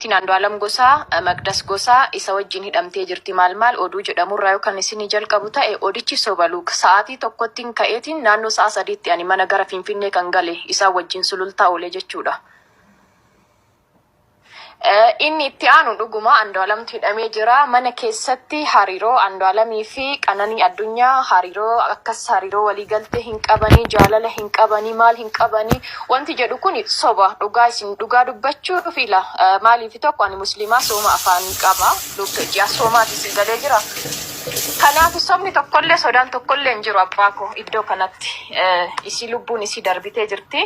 Maatiin Andu'aalam Gosaa, Maqdas Gosaa, isa wajjin hidhamtee jirti maal maal oduu jedhamu irraa yoo kan isinii jalqabu ta'e odichi soba Luke. Sa'aatii tokkottin ka'eetiin naannoo sa'a sadiitti ani mana gara Finfinnee kan gale isaan wajjin Sulultaa oolee jechuudha. Inni itti aanu dhuguma Andu'aalamtu hidhamee jira. Mana keessatti hariiroo Andu'aalamii fi Qananii Addunyaa hariiroo akkas hariiroo walii galtee hin qabanii, jaalala hin qabanii, maal hin qabanii, Wanti jedhu kuni soba dhugaa isin dhugaa dubbachuuf ila maaliif tokko ani muslimaa sooma afaanii qaba lugga ji'a soomaati si galee jira kanaafu sobni tokkollee sodaan tokkollee hin jiru abbaa ko iddoo kanatti isii lubbuun isii darbitee jirti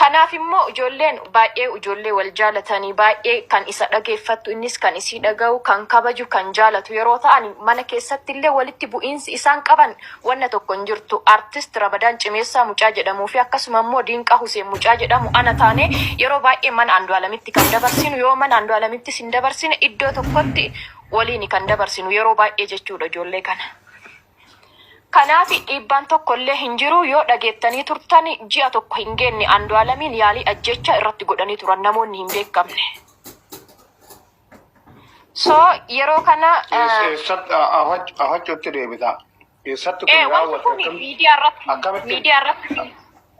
kanaaf immoo ijoolleen baay'ee ijoollee wal jaalatanii baay'ee kan isa dhageeffattu innis kan isii dhaga'u kan kabaju kan jaalatu yeroo ta'an mana keessatti illee walitti bu'iinsi isaan qaban wanna tokko hin jirtu artist Ramadaan Cimeessaa mucaa jedhamuu fi akkasuma immoo Diinqaa Huseen mucaa jedhamu ana taane yeroo baay'ee mana Andu'alamitti kan dabarsinu yoo mana Andu'alamittis hin dabarsine iddoo tokkotti waliini kan dabarsinu yeroo baay'ee jechuudha ijoollee kana. Kanaaf dhiibbaan tokko illee hin jiru yoo dhageettanii turtan ji'a tokko hin geenne Andu'alamiin yaalii ajjeechaa irratti godhanii turan namoonni hin beekamne. So yeroo kana eh, Eessatti afachuutti deebita. Eessatti kun eh, wanti raawwate kun akkam- miidiyaa irratti akkamitti- miidiyaa irratti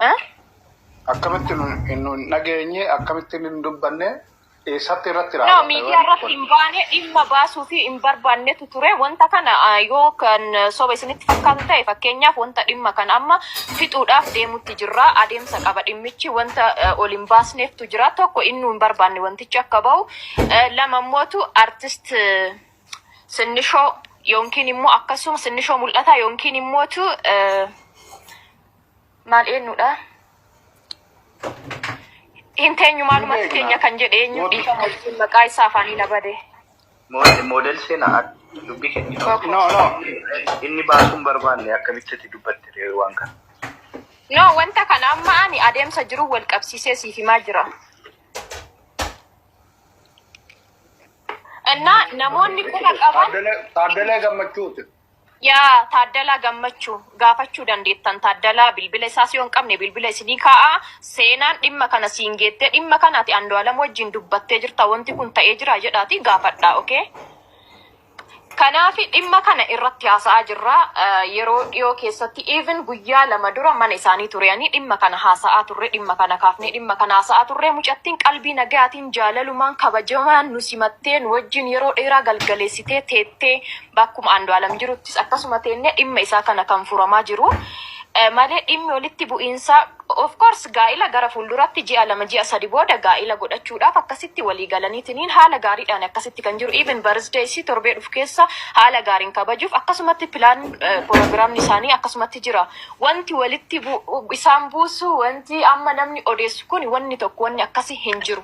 Eh? akkamitti nu nu hin dhageenye akkamitti nu hin dubbanne eessatti irratti No, raawwate miidiyaa wanti irratti kun. hin baane dhimma baasuu fi hin barbaannetu ture. Wanta kana ah, yoo kan eh, soba isinitti fakkaatu ta'e fakkeenyaaf wanta dhimma kana amma fixuudhaaf deemutti jirra. Adeemsa qaba dhimmichi wanta eh, ol hin baasneeftu jira. Tokko inni nu hin barbaanne wanti Jechi akka bahu lama immootu artist sinnishoo yookiin immoo akkasuma sinnishoo mul'ataa yookiin immootu maal eenyudha? Hin teenyu maalumatti teenya kan jedhe eenyu dhiifama jechuun maqaa isaa afaanii na bade. Moodel seenaa dubbii kennitu. No, no. Inni baasuun barbaanne akkamitti itti dubbatte ree waan kana. No, wanta kana amma ani adeemsa jiru wal qabsiisee siif himaa jira. እና namoonni quba qaban Taaddalaa Gammachuuti. yaa taaddalaa gammachuu gaafachuu dandeettan taaddalaa bilbila isaa si hin qabne bilbila isinii kaa'a seenaan dhimma kana siin geettee dhimma kana ati andualam wajjin dubbattee jirta wanti kun ta'ee jira jedhaati gaafadhaa okay Kanaafi dhimma kana irratti haasa'aa jirra. Yeroo dhiyoo keessatti even guyyaa lama dura mana isaanii tureanii dhimma kana haasa'aa turre, dhimma kana kaafnee dhimma kana haasa'aa turre. Mucattiin qalbii nagayaatiin, jaalalumaan, kabajamaan nu simattee nu wajjin yeroo dheeraa galgaleessitee teettee bakkuma Andu'aalam jiruttis akkasuma teennee dhimma isaa kana kan furamaa jiru malee dhimmi walitti bu'iinsaa Of course gaa'ila gara fuulduratti ji'a lama ji'a sadi booda gaa'ila godhachuudhaaf akkasitti walii galaniitiniin haala gaariidhaan akkasitti kan jiru even birthday isii torbee dhufu keessa haala gaariin kabajuuf akkasumatti plan programni isaanii akkasumatti jira wanti walitti isaan buusu wanti amma namni odeessu kuni wanni tokko wanni akkasi hin jiru.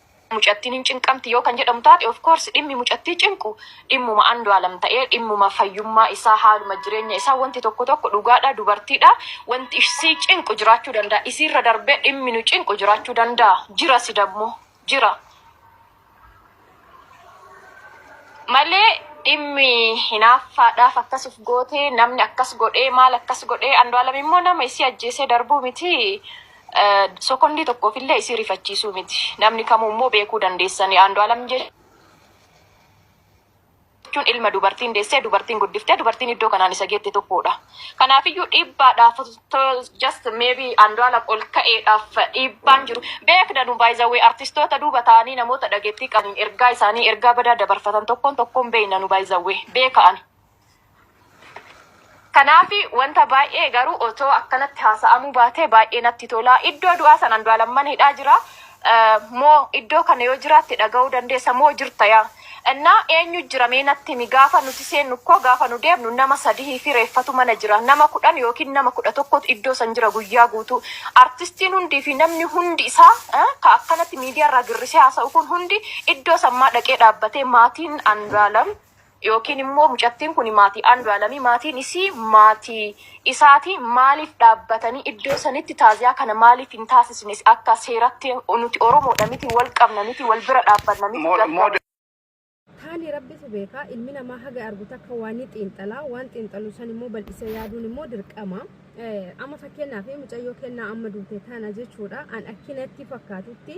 Mucattiin hin cinqamti yoo kan jedhamu taate of course dhimmi mucattii cinqu dhimmuma Andu'aalam ta'ee dhimmuma fayyummaa isaa haaluma jireenya isaa wanti tokko tokko dhugaadha dubartiidha wanti isii cinqu jiraachuu danda'a isiirra darbee dhimmi nu cinqu jiraachuu danda'a jirasi dammoo jira malee dhimmi hinaaffaadhaaf akkas of gootee namni akkas godhee maal akkas godhee Andu'aalam immoo nama isii ajjeesee darbuu miti Sokondii tokkoof illee isii rifachiisuu miti. Namni kamuu immoo beekuu dandeessani. Aandu'aalam jechuun ilma dubartiin deessee, dubartiin guddiftee, dubartiin iddoo kanaan isa geette tokkoodha. Kanaafiyyuu dhiibbaadhaaf just maybe Aandu'aalam ol ka'eedhaaf dhiibbaan jiru beekna nu by the way artistoota duuba taa'anii namoota dhageettii qabaniin ergaa isaanii ergaa badaa dabarfatan tokkoon tokkoon beekna nu by the way beeka ani. Kanaafi wanta baay'ee garuu otoo akkanatti haasa'amuu baatee baay'ee natti tola. Iddoo du'aa san Andu'aalam mana hidhaa jira moo iddoo kana yoo jiraatte dhaga'uu dandeessa moo jirta yaa Innaa eenyu jira mee natti himi gaafa nuti seennu kko gaafa nu deebnu nama sadihii fi reeffatu mana jira nama kudhan ykn nama kudha tokkotu iddoo san jira guyyaa guutuu artistiin hundii fi namni hundi isaa ka akkanatti miidiyaa irraa girrisee haasa'u kun hundi iddoo san maa dhaqee dhaabbatee maatiin Andu'aalam Yookiin immoo mucattiin kuni maatii Andualami maatiin isii maatii isaati maaliif dhaabbatanii iddoo sanitti taaziyaa kana maaliif hin taasisne akka seeratti nuti oromoodha miti wal qabna miti wal bira dhaabbanna miti gadda Taani Rabbitu beeka, ilmi namaa haga argu takka waa ni xiinxala, waan xiinxalu san immoo bal'isee yaaduun immoo dirqama. Eh, Amma fakkeenyaaf mucayyoo kennaa amma duute tana jechuudha, an akkinatti fakkaatutti